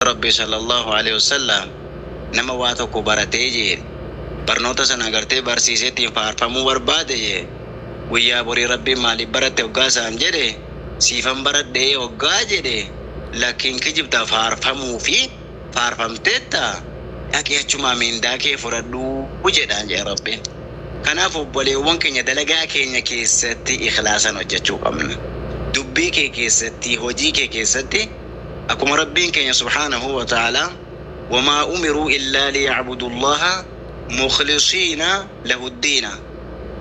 Rabbii sallallaahu aleyhi wassallam nama waa tokko baratee jeen barnoota san agartee barsiisee ittiin faarfamuu barbaade jee guyyaa borii Rabbiin maaliif baratte hoggaa isaan jedhe siifan baradhe hoggaa jedhe lakki hin kijibda faarfamuufi faarfamteetta dhaqi achumaa mindaa kee fudhadhu jedhaan jeen Rabbiin kanaaf obboleewwan keenya dalagaa keenya keessatti ikhlaasan hojjachuu qabna dubbii kee keessatti hojii kee keessatti Akkuma Rabbiin keenya subhaanahu wa ta'aalaa, Wamaa umiruu illaa liya'budullaaha mukhlisiina lahuddiina,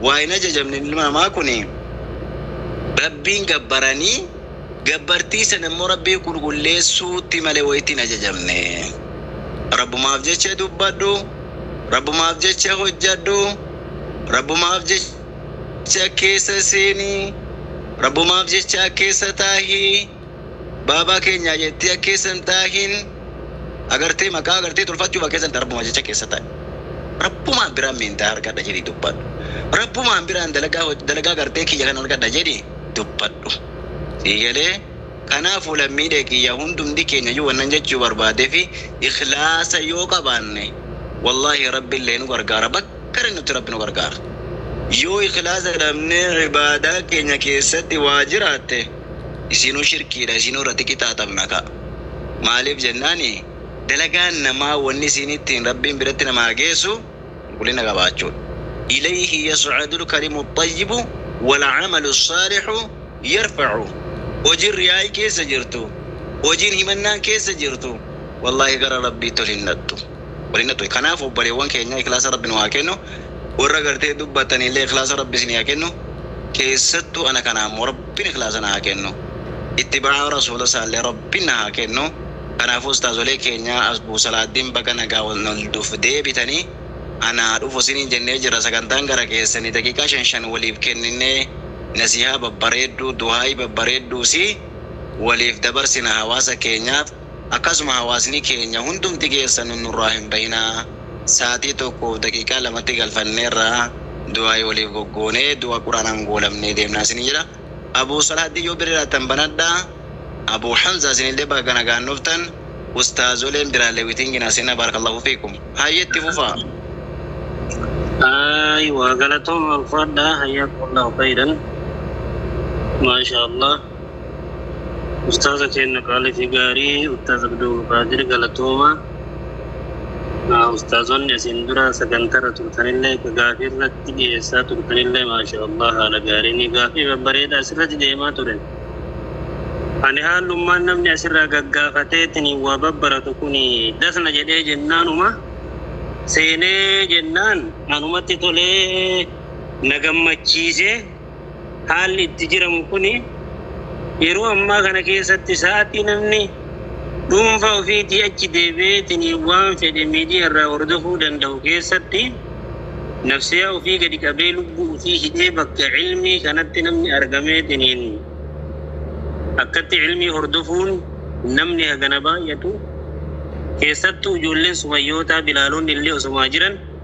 waa hin ajajamne ilmi namaa kuni Rabbiin gabbaranii, gabbartii san ammoo Rabbii qulqulleessuutti malee waytti hin ajajamne. Rabbumaaf jecha dubbadhu, Rabbumaaf jecha hojjadhu, Rabbumaaf jecha keessa seeni, Rabbumaaf jecha keessa taahi. Baabaa keenyaa jettee akka keessa hin taahiin agartee maqaa agartee tolfachuu bakka keessan rabbuma jecha keessa taa'i rabbumaan biraan miindaa argadha jedhii dubbadhu rabbumaan biraan dalagaa dalagaa agartee kiyya kan argadha jedhii dubbadhu sii galee kanaafuu lammiilee kiyya hundumti keenya iyyuu wannan jechuu barbaadee fi ikhlaasa yoo qabaanne wallaahi rabbi illee nu gargaara bakka nutti rabbi nu gargaara yoo ikhlaasa dhabnee ibaadaa keenya keessatti waa jiraatte isiinuu shirkiidha isiinuu irratti qixaaxamna ka maaliif jennaani dalagaan namaa wanni isiin ittiin rabbiin biratti namaa geessu qulqullina qabaachuudha ilayhi yas'adul kalimu xayyibu wal amalu saalihu yarfa'u hojiin riyaa'ii keessa jirtu hojiin himannaan keessa jirtu wallaahi gara rabbiitti ol hin dhaqxu waliin ture kanaaf obbaleewwan keenya iklaasa rabbi nu haa kennu warra gartee dubbattanillee iklaasa rabbi isinii haa kennu keessattu ana kana ammoo rabbin iklaasa na haa kennu ittibaa'a rasuula isaallee rabbin na haa kennu kanaafuu ustaazolee keenya asbu salaaddin baga nagaan nuf deebitanii anaa dhufu isiniin jennee jirra sagantaan gara keessanii daqiiqaa shan shan waliif kenninnee nasiihaa babbareedduu duhaa'ii babbareedduu sii waliif dabarsina hawaasa keenyaaf Akkasuma hawaasni keenya hundumti keessanu nurraa hin bahinaa saatii 1:02tti galfanneerra du'aa'ii waliif goggoonee du'a qur'aanaan goolabnee deemnaa isiniin jedha Abuu Salaahaddin yoo birriiraattan banadha Abuu Hamzaa isinillee baga nagaan dhuftan ustaazoleen biraallee witingi naa seenaa baarakallaahu fiikum hayyee itti fufaa. Ayiwa galatooma ulfaadhaa hayyaakumullaahu kayran maashaa allaah. Ustaaza keenna qaalii fi gaarii Ustaaz Abdulqaadir Galatoomaa. Ah, Ustaazonni asiin dura sagantarra turtanillee ka gaafii irratti dhiyeessaa turtanillee maasha Allah haala gaariin gaafii babbareedaa asirratti deemaa ture. Ani haalummaan namni asirraa gaggaafateetiin waa babbaratu kun dasna jedhee jennaanuma seenee jennaan anumatti tolee na gammachiisee Haalli itti jiramu kuni yeroo ammaa kana keessatti sa'atii namni dhuunfaa ofiitii achi deebi'eetini waan fedhe miidiyaa irraa hordofuu danda'u keessatti nafsiyaa ofii gadi qabee lubbuu ofii hidhee bakka cilmii kanatti namni argameetiniin akkatti cilmii hordofuun namni hagana baay'atu keessattuu ijoolleen sumayyootaa bilaaloonni illee osomaa jiran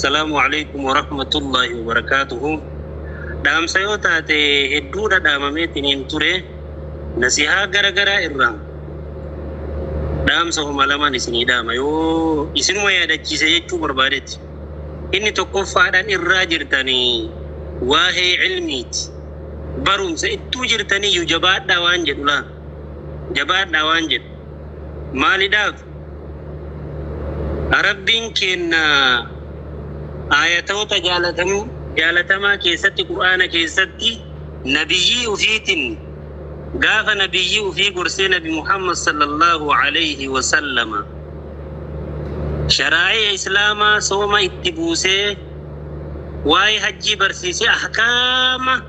Salaamu alaikum warahmatullahi wabarakatuhu. Dhaamsa yoo taate hedduu dhadhaamameetiniin ture nasihaa gara garaa irraa dhaamsa homa lamaan isinii dhaama yoo isinuma yaadachiise jechuu barbaadetti. Inni tokkoffaadhaan irraa jirtanii waa'ee ilmiiti. Barumsa ittuu jirtanii iyyuu jabaadhaa waan jedhu laa. Jabaadhaa waan jedhu. Maalidhaaf? Rabbiin keenna aayatoota jaalatamoo, jaalatamaa keessatti, Qur'aana keessatti, Nabiyyii ufiitin gaafa Nabiyyii ufii gorsee Nabi Muhammad sallallaahu aleyhi wa sallama sharaa'i'a Islaamaa sooma itti buusee waa'ee hajjii barsiisee ahkaama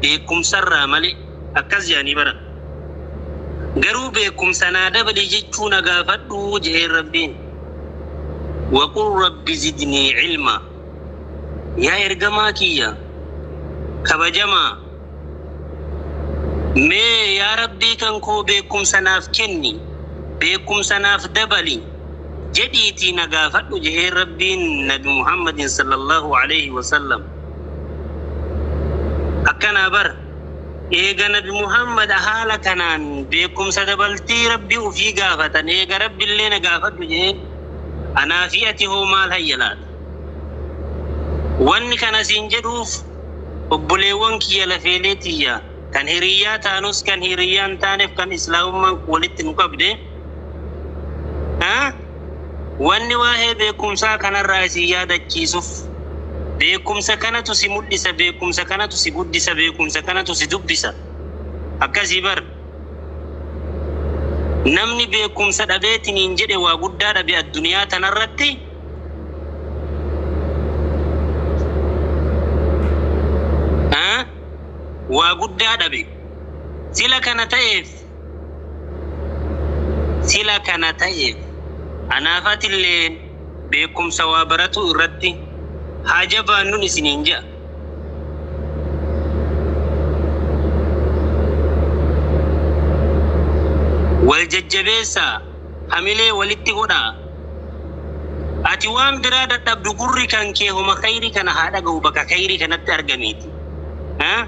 beekumsarraa male akkas je'anii baran. Garuu beekumsa naa dabali jechuu na gaafadhu je'een Rabbiin. Waqul Rabbi zidnii ilmaa. Yaa ergamaa kiyya kabajamaa mee yaa Rabbii kan koo beekumsa naaf kenni, beekumsa naaf dabali jedhiitii na gaafadhu je'een Rabbiin Nabi Muhammadin sallallahu aleyhi wasallam. Akkanaa bar, eega nabi Muhammad haala kanaan beekkumsa dabaltii Rabbi ufii gaafatan eega Rabbillee na gaafadhu je'een, anaa fi ati hoo maal hayya laata? Wanni kana siin jedhuuf obboleewwan kiyya lafeelee tiyya, kan hiriyyaa taanus kan hiriyyaa hin taaneef kan Islaamummaan walitti nu qabde, Wanni waa'ee beekumsaa kanarraa isin yaadachiisuuf beekumsa kanatu si mul'isa, beekumsa kanatu si guddisa, beekumsa kanatu si dubbisa. Akkasii bar. Namni beekumsa dhabeetiniin jedhe waa guddaa dhabe addunyaa tanarratti. Waa guddaa dhabe. Sila kana ta'eef. Sila kana ta'eef, anaaf atilleen beekumsa waa baratuu irratti haa jabaannun isiniin ja'a. Wal jajjabeessaa, hamilee walitti godhaa. Ati waan biraa dadhabdu gurri kan kee homa khayrii kana haa dhagahu bakka khayrii kanatti argamiiti.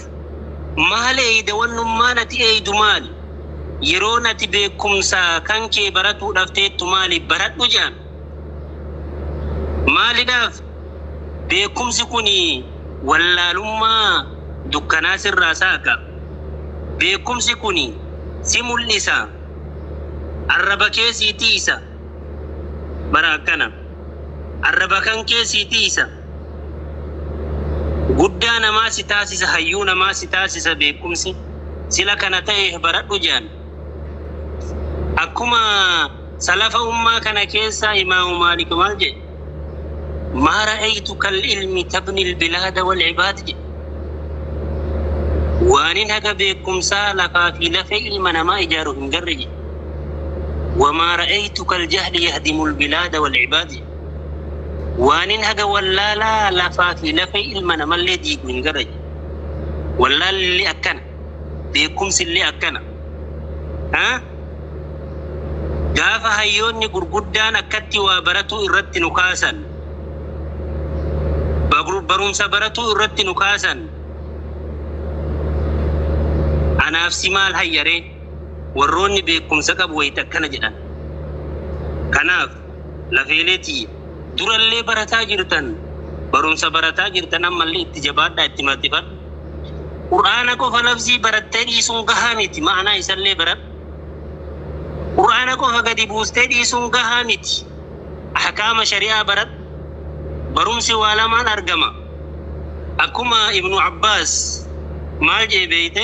jiraattu. Maal eeyda wannummaan ati eeydu maali? Yeroon ati beekkumsa kan kee baratuudhaaf teettu maali? Baradhu jedhame. Maalidhaaf? Beekkumsi kun wallaalummaa dukkanaa sirraa saaqa. Beekkumsi kun si mul'isa. Arraba kee sii tiysa. Bara akkana. Arraba kan kee sii tiysa. Guddaa namaa si taasisa hayyuu namaa si taasisa beekumsi sila kana ta'eeh baradhu je'an. Akkuma salafa ummaa kana keessaa imaamu maalik maal je'e? Maa ra'aytu kal ilmi tabni albilaada wal ibaad je'e. Waanin haga beekumsaa lafaa fi lafee ilma namaa ijaaru hin garre je'e. Wamaa ra'aytu kal jahli yahdimu albilaada wal ibaad je'e. Waanin haga wallaalaa lafaa fi lafee ilma namallee diigu hin garayu. Wallaalli akkana. Beekumsillee akkana. a Gaafa hayyoonni gurguddaan akkatti waa baratuu irratti nu kaasan, bagru barumsa baratuu irratti nu kaasan, anaaf si maal hayya ree? Warroonni beekumsa qabu wayita akkana jedhan. Kanaaf. lafeelee tiyya. Durallee barataa jirtan barumsa barataa jirtan ammallee itti jabaadhaa itti maxifadha. Qur'aana qofa lafzii barattee dhiisuun gahaa miti ma'anaa isallee baradhu. Qur'aana qofa gadi buustee dhiisuun gahaa miti ahkaama shari'aa baradhu. Barumsi waa lamaan argama. Akkuma ibnu abbaas maal je'e beeyte?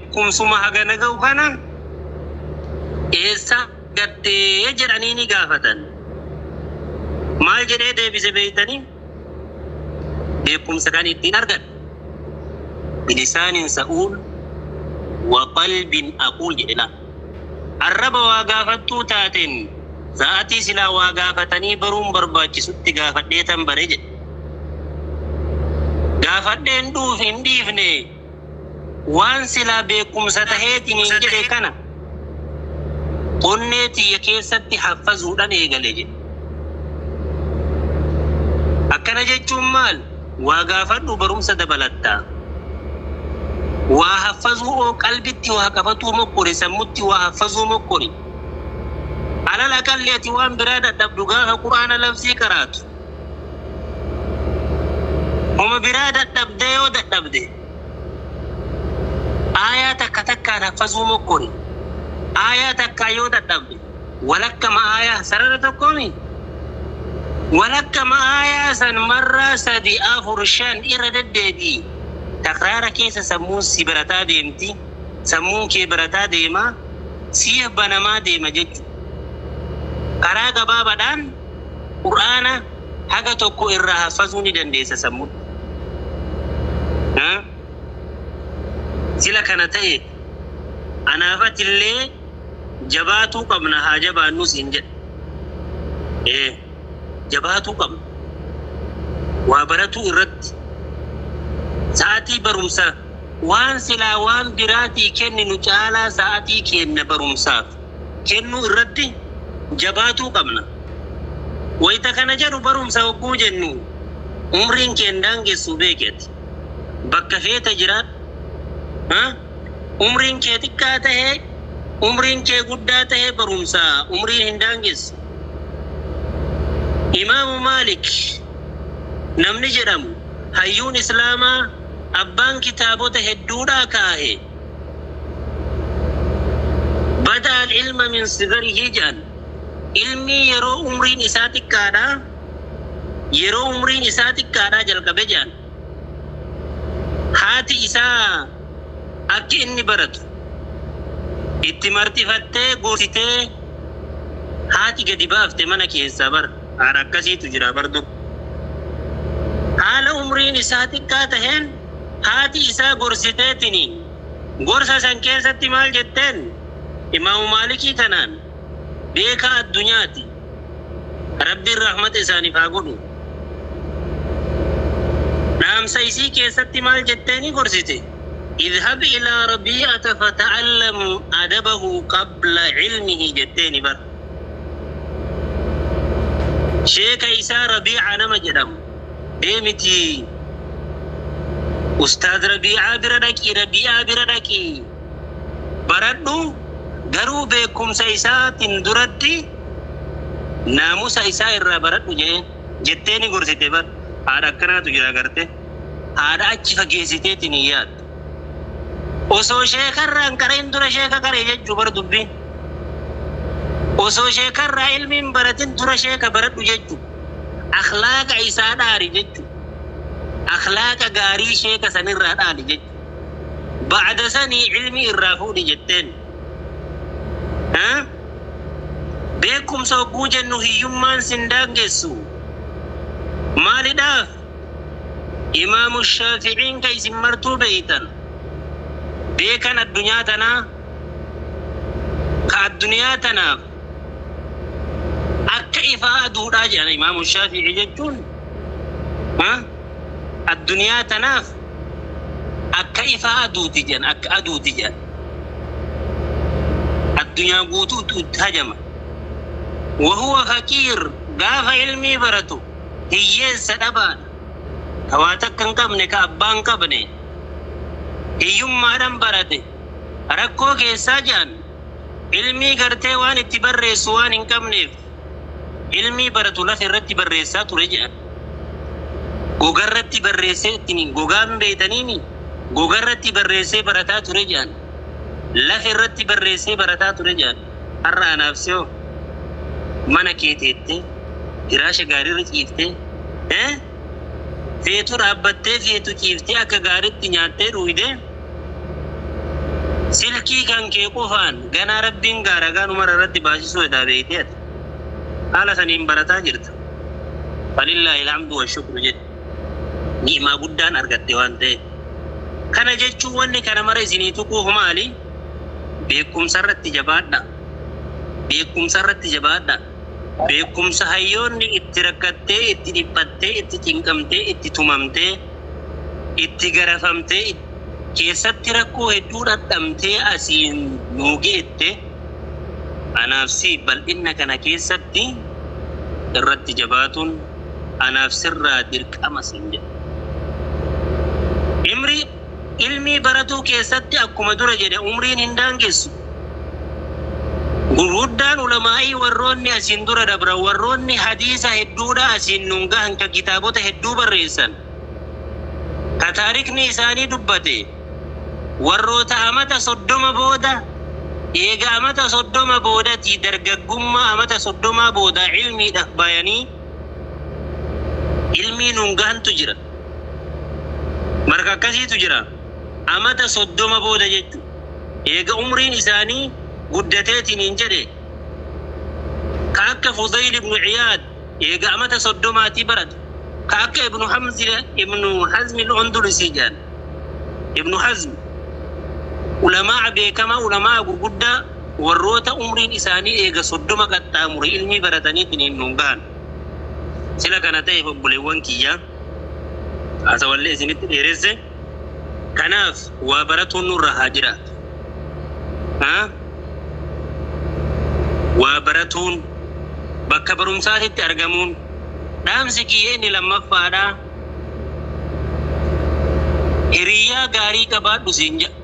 Kumsuma hagana ga'u kana eessaa argatte? jedhaniini gaafatan. Maal jedhee deebise beektanii? Beekumsa kan ittiin argadhe bilisaanin sa'uul wa qalbin aquul jedhe laal. Arraba waa gaafattuu taateen sa'aatii silaa waa gaafatanii baruun barbaachisutti gaafadheetan bare jedhe. Gaafadheen dhuuf hin dhiifne. Waan silaa beekkumsa taheetiniin jedhe kana onnee tiyya keessatti haffazuudhan eegale jedhe. Akkana jechuun maal? Waa gaafadhu barumsa dabalatta. Waa haffazuu oo qalbitti waa qabatuu mokkori, sammutti waa haffazuu mokkori. Alal aqalli ati waan biraa dadhabdu gaafa Qur'aana lafzii qaraatu. Homa biraa dadhabdee yoo dadhabde aayaa takka takkaan haffazuu mokkori. Aayaa takkaan yoo dadhabde walakkama aayaa, sarara tokko mii? Walakkama aayaa san marraa sadi, afur, shan irra deddeebi'i. Takraara keessa sammuun si barataa deemti, sammuun kee barataa deema, siif banamaa deema jechuudha. Karaa gabaabaadhaan. Qur'aana haga tokko irraa haffazuu ni dandeessa sammuun. Sila kana ta'eef anaaf atillee jabaatuu qabna haa jabaannuu siin jedha. Ee jabaatuu qabna. Waa baratuu irratti sa'atii barumsa waan silaa waan biraatii kenninu caalaa sa'atii keenna barumsaaf. kennuu irratti jabaatuu qabna. Wayita kana jedhu barumsa hogguu jennu umriin kee hin daangessu beeki ati. Bakka feete jiraadhu. Umriin kee xiqqaa tahe, umriin kee guddaa tahe barumsa umriin hin daangessu. Imaamu Maalik namni jedhamu hayyuun Islaamaa abbaan kitaabota hedduudhaa kaahe. Bada al-ilma min sigarihi jedhan, ilmii yeroo umriin isaa xiqqaadhaa yeroo umriin isaa xiqqaadhaa jalqabe jedhan. Haati isaa akka inni baratu itti marxifattee gorsitee haati gadi baafte mana keessaa bar haadha akkasiitu jira bar dur. Haala umriin isaa xiqqaa taheen Haati isaa gorsiteetini. Gorsa san keessatti maal jetteen? Imaamu Maalikii kanaan beekaa addunyaati. Rabbiin rahmata isaaniif haa godhu. Dhaamsa isii keessatti maal jetteenii gorsite? Idhab ilaa Rabii'ata fata'allam adabahu qabla ilmihi jetteeni bar. Sheeka isaa Rabii'a nama jedhamu. demitii ustaaz rabii'aa bira dhaqii rabii'aa bira dhaqii baradhu garuu beekumsa isaatin duratti naamusa isaa irraa baradhu jedheen jettee ni gorsite bar haadha akkanaatu jira garte haadha achi fageessiteetiin hin yaaddu osoo sheekarraa hin qara'in dura sheeka qaree jechuu bar dubbiin osoo sheekarraa ilmiin baratin dura sheeka baradhu jechuu Akhlaaqa isaa dhaali jechuun. Akhlaaqa gaarii sheeka sanirraa dhaali jechuun. Ba'da sanii ilmii irraa fuudhi jetteen. Beekumsa hogguu jennu hiyyummaan sin daangessu. Maalidhaaf? Imaamu Shaafi'iin ka isin martuu beeytan, beekan addunyaa tanaa, ka addunyaa tanaaf akka ifaa aduudhaa jedhan imaamu shaafi'i jechuun ha? addunyaa tanaaf akka ifaa aduuti jedhan akka aduuti jedhan addunyaa guutuutu itti hajama wahuwa faqiir gaafa ilmii baratu hiyyeessa dhabaadha ka waa takka hin qabne ka abbaa hin qabne hiyyummaadhan barate rakkoo keessaa jedhan Ilmii gartee waan itti barreessu waan hin qabneef ilmii baratu lafa irratti barreessaa ture jedhan. Gogarratti barreessee ittiin gogaa hin beeytaniimi gogarratti barreessee barataa ture jedhan. Lafa irratti barreessee barataa ture jedhan. Har'a anaaf sihoo mana kee teettee firaasha gaariirra ciiftee ee. Feetu dhaabbattee feetu ciiftee akka gaaritti nyaattee dhuuyde silkii kan kee qofaan ganaa rabbiin gaa ragaa nu mara irratti baasisuu hedaa beeytee ati haala saniin barataa jirta falillaahil hamdu wa shukru jedhi ni'maa guddaan argatte waan ta'eef kana jechuun wanni kana mara isinii tuquuf maali beekkumsa irratti jabaadhaa beekkumsa irratti jabaadhaa. Beekumsa hayyoonni itti rakkattee, itti dhiphattee, itti cinqamtee, itti tumamtee, itti garafamtee, keessatti rakkoo hedduu dhadhamtee asiin nuu geette, anaaf siif bal'inna kana keessatti irratti jabaatuun anaaf sirraa dirqama siin jedha. Imri. Ilmii baratuu keessatti akkuma dura jedhe umriin hin daangessu. Gurguddaan ulamaa'ii warroonni asiin dura dabran warroonni hadiisa hedduudha asiin nun gahan ka kitaabota hedduu barreessan ka taarikni isaanii dubbate warroota amata 30 booda eega amata 30 boodatii dargaggummaa amata 30 boodaa ilmiidhaf bayanii ilmii nun gahantu jira. Marka akkasiitu jira. Amata 30 booda jechu. Eega umriin isaanii guddateetiniin jedhe, ka akka Fudayl ibnu Ciyaad eega amata 30 tii baratu, ka akka Ibnu Hamzi Ibnu Hazmi Al-Ondulusii jedhan. Ibnu Hazm ulamaa'a beekamaa, ulamaa'a gurguddaa, warroota umriin isaanii eega 30 qaxxaamure ilmii barataniitiniin nuun gahan. Sila kana ta'eef obboleewwan kiyya haasawallee isinitti dheeresse. Kanaaf waa baratuun nurra haa jiraatu. Haa? Waa baratuun, bakka barumsaatitti argamuun dhaamsi kiyya inni lammaffaadha. Hiriyyaa gaarii qabaadhu siin jedha.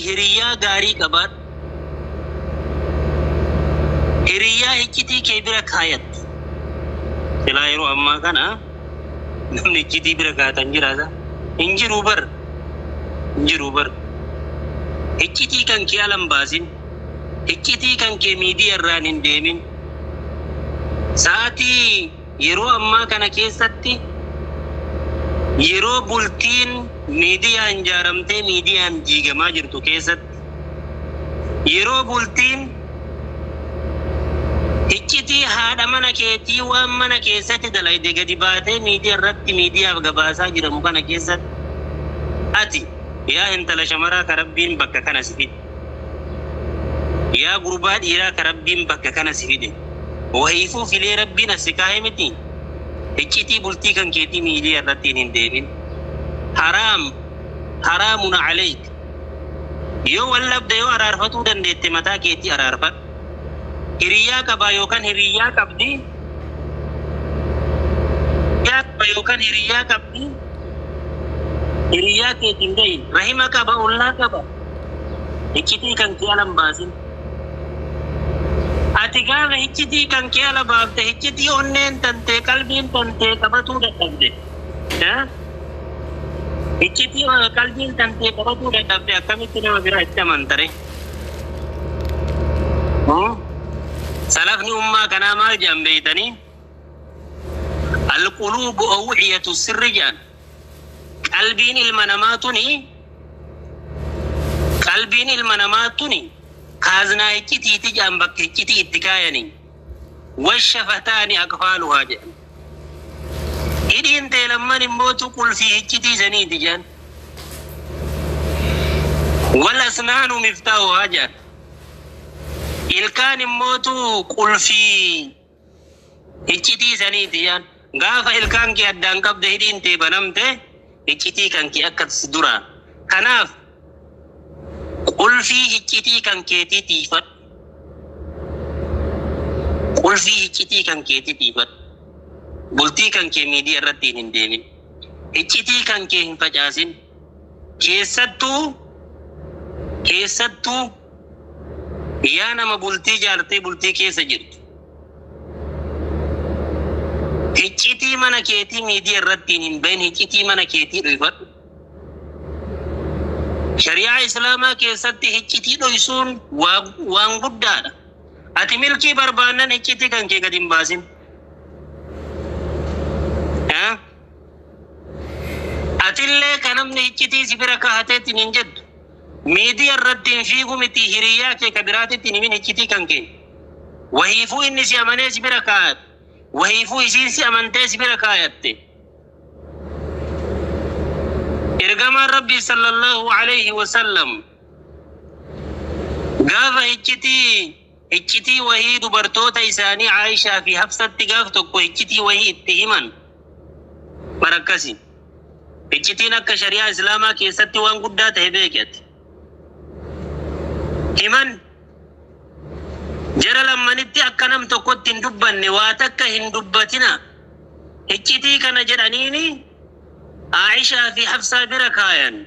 Hiriyaa gaarii qabaadhu. Hiriyaa iccitii kee bira kaayatte. Silaa yeroo ammaa kana namni iccitii bira kaayatan jiraata? Hin jiru bar. Hin jiru bar. Iccitii kan kee ala hin baasin. Iccitii kan kee miidiyaa irraan hin deemin. Sa'aatii Yeroo ammaa kana keessatti yeroo bultiin miidiyaan ijaaramtee miidiyaan diigamaa jirtu keessatti, yeroo bultiin hiccitii haadha mana keetii waan mana keessatti dalayde gadi baatee miidiya irratti miidiyaaf gabaasaa jiramu kana keessatti ati yaa intala shamaraa ka Rabbiin bakka kana si fide, Yaa gurbaa dhiiraa ka Rabbiin bakka kana si fide, wahiifuu filee Rabbiin as si kaaye mitii? Hiccitii bultii kan keetii miidiyaa irrattiin hin deemin. Haraam, haraamun aleyk. Yoo wal dhabde yoo araarfatuu dandeette mataa keetii araarfadhu. Hiriyaa qabaa yookan hiriyaa qabdi? Hiriyaa qaba yookan hiriyaa qabdi? Hiriyaa keetiin gahi. Rahima qaba, ollaa qaba? Hiccitii kan kee ala hin baasin. Ati gaafa hiccitii kan kee ala baafte hiccitii onneen tantee qalbiin tantee qabatuu dadhabde. Eh? Hiccitii eh, qalbiin tantee qabatuu dadhabde akkamitti nama biraa itti amantare? Hmm? Salafni ummaa kanaa maal jedhan beeytanii? Alquluubu awciyatu sirri jedhan. Qalbiin ilma namaa tuni Qalbiin ilma namaa tuni kaaznaa iccitiiti jedhan bakka iccitii itti kaayaniin. Washafataani aqfaaluhaa jedhan. Hidhiin tee lamman immootu qulfii iccitii saniiti jedhan. Wal asnaanu miftaahuhaa jedhan. Ilkaan immootu qulfii. Iccitii saniiti yaa. Gaafa ilkaan kee addaan qabde hidhiin tee banamte iccitii kan kee akkati si duraa. Kanaaf qulfii hiccitii kan keetii tiiyfadhu. Qulfii hiccitii kan keetii tiiyfadhu. Bultii kan kee miidiya irrattiin hin deemin. Iccitii kan kee hin facaasin. Keessattuu keessattuu yaa nama bultii jaartee bultii keessa jirtu hiccitii mana keetii miidiyaa irrattiin hin bahin hiccitii mana keetii dhoyfadhu. Shari'aa Islaamaa keessatti hiccitii dhoysuun waa- waan guddaadha. Ati milkii barbaannan hiccitii kan kee gad hin baasin. Eh? Atillee ka namni hiccitii si bira kahatee ittiin hin jettu, miidiya irratti hin fiigu mitii hiriyaa kee ka biraatitti hin himin hiccitii kan kee. Wahiifuu inni si amanee si bira kaayate, wahiifuu isiin si amantee si bira kaayatte. Ergamaan Rabbii sallallahu aleyhi wa sallam gaafa hiccitii Iccitii wahii dubartoota isaanii Aa'ishaa fi Hafsatti gaaf tokko iccitii wahii itti himan. Bar akkasi. Iccitiin akka shari'aa Islaamaa keessatti waan guddaa tahe beeki ati. Himan jara lammanitti akka nam tokkotti hin dubbanne waa takka hin dubbatina. Iccitii kana jedhaniini Aa'ishaa fi Hafsaa bira kaayan.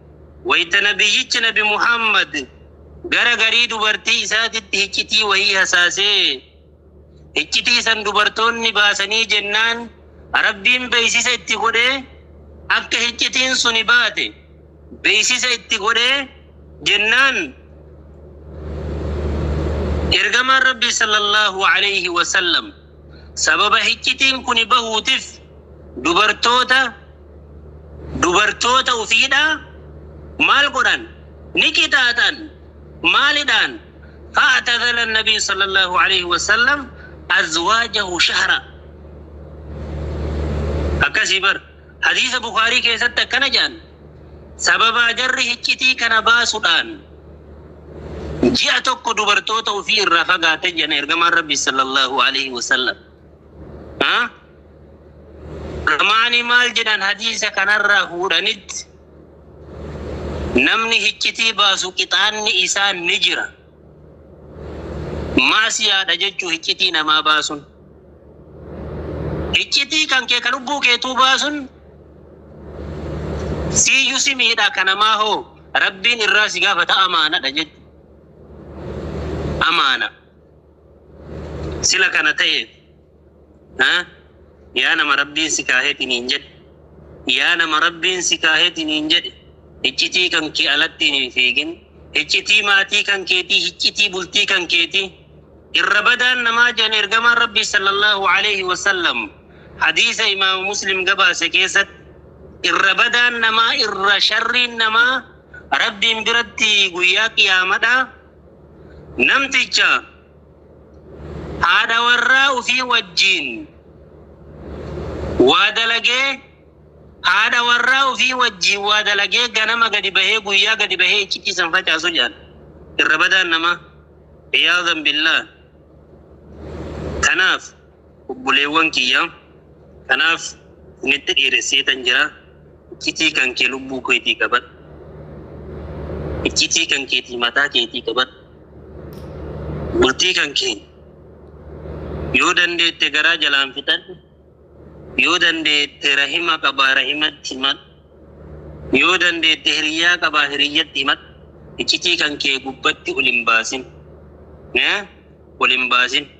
Wayta Nabiyyichi Nabi Muhammad gara garii dubartii isaatitti hiccitii wahii hasaasee, hiccitii san dubartoonni baasanii jennaan Rabbiin beeysisa itti godhee akka hiccitiin suni baate beeysisa itti godhee jennaan Ergamaan Rabbii sallallaahu aleeyhi wasallam sababa hiccitiin kuni bahuutif Dubartoota dubartoota ufiidhaa maal godhan? Ni qixaaxan. Maalidhaan? Fa'atazala an-Nabiyyu sallallahu alayhi wa sallam azwaajahu shahra. Akkasii bar. Hadiisa Bukhaarii keessatti akkana jedhan. Sababaa jarri hiccitii kana baasudhaan ji'a tokko dubartoota ufii irraa fagaatan jedhan ergamaan Rabbii sallallahu alayhi wa sallam. Ulamaani maal jedhan hadiisa kanarraa fuudhanitti namni hiccitii baasu qixaanni isaa ni jira. Maasiyaadha jechuu hiccitii namaa baasun. Hiccitii kan kee ka lubbuu keetuu baasun siiyyu si miidha ka namaa hoo rabbiin irraa si gaafata amaanadha jechu. Amaana sila kana ta'eef. Haa? Yaa nama Rabbiin si kaaheti niin jedhe. Yaa nama Rabbiin si kaaheti niin jedhe, hiccitii kan kee alattiin hin fiigin. Hiccitii maatii kan keetii, hiccitii bultii kan keetii. Irra badaan namaa jedhan ergamaan Rabbii sallallahu aleyhi wa sallam hadiisa imaama Muslim gabaase keessatti irra badaan namaa irra sharriin namaa Rabbiin biratti guyyaa qiyaamadhaa namticha haadha warraa ufii wajjiin waa dalagee haadha warraa ufii wajjiin waa dalagee ganama gadi bahee guyyaa gadi bahee iccitii san facaasu jedhan irra badaan namaa iyaadan billaa kanaaf Obboleewwan kiyya! Kanaaf isinitti dheeresseetan jira, iccitii kan kee lubbuu keetii qabadhu, iccitii kan keetii mataa keetii qabadhu, bultii kan kee yoo dandeette garaa jalaan fixadhu, yoo dandeette rahima qabaa rahimatti himadhu, yoo dandeette hiriyyaa qabaa hiriyyatti himadhu, iccitii kan kee gubbatti ol hin baasin, ol hin baasin.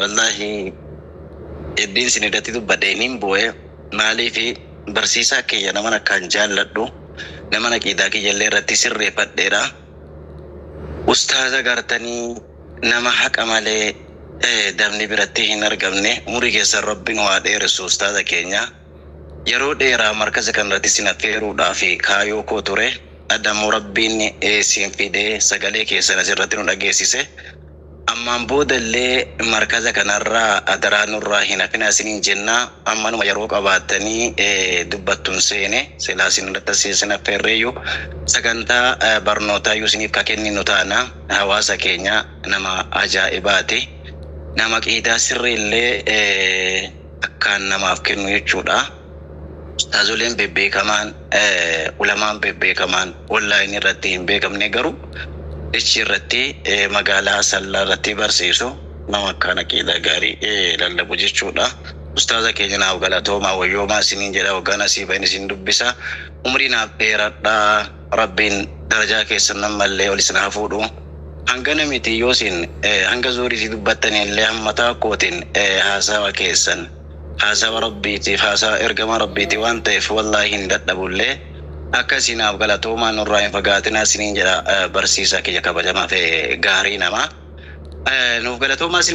Wallaahi eddiin sin irratti dubbadhe nin booye maaliifi barsiisaa kiyya naman akkaan jaalladhu naman aqiidaa kiyya illee irratti sirreefadheedha ustaaza gartanii nama haqa malee dabni biratti hin argamne umurii keessan rabbi nu haa dheeressu ustaaza keenya yeroo dheeraa markaza kan irratti sin affeeruudhaaf kaayoo koo ture adda immoo rabbiin sin fidee sagalee keessan as irratti nu dhageessise Ammaan booda illee markaza kanarraa adaraa nurraa hin hafinaa isiniin jenna. Ammanuma yeroo qabaattanii dubbattun seene. Silaa isin hundatti as isin affeerreeyyuu sagantaa barnootaayyuu isiniif ka kenninu taana. Hawaasa keenya nama ajaa'ibaati. Nama qiidaa sirrii illee akkaan namaaf kennu jechuudha. Ustaazoleen bebbeekamaan, ulamaan bebbeekamaan online irratti hin beekamne garuu dachii irratti magaalaa Asallaa irratti barsiisu nama akkaan aqiidaa gaarii lallabu jechuu dha. Ustaaza keenya naaf galatoomaa wayyoomaa isiniin jedha waggaa nasii bahen isin dubbisa umrii naaf dheeradhaa rabbiin darajaa keessan ammallee ol isin haa fuudhu hangana miti yoo isin hanga zuhriitii dubbattan illee hammataa kootiin haasawa keessan Haasawa Rabbiitiif haasawa Ergamaa Rabbiiti waan ta'eef wallaahi hin dadhabullee. Akkasii naaf galatoomaa nurraa hin fagaatinaa isiniin jedha barsiisaa kiyya kabajamaa fi gaarii namaa. Nuuf galatoomaa isiniin jedha.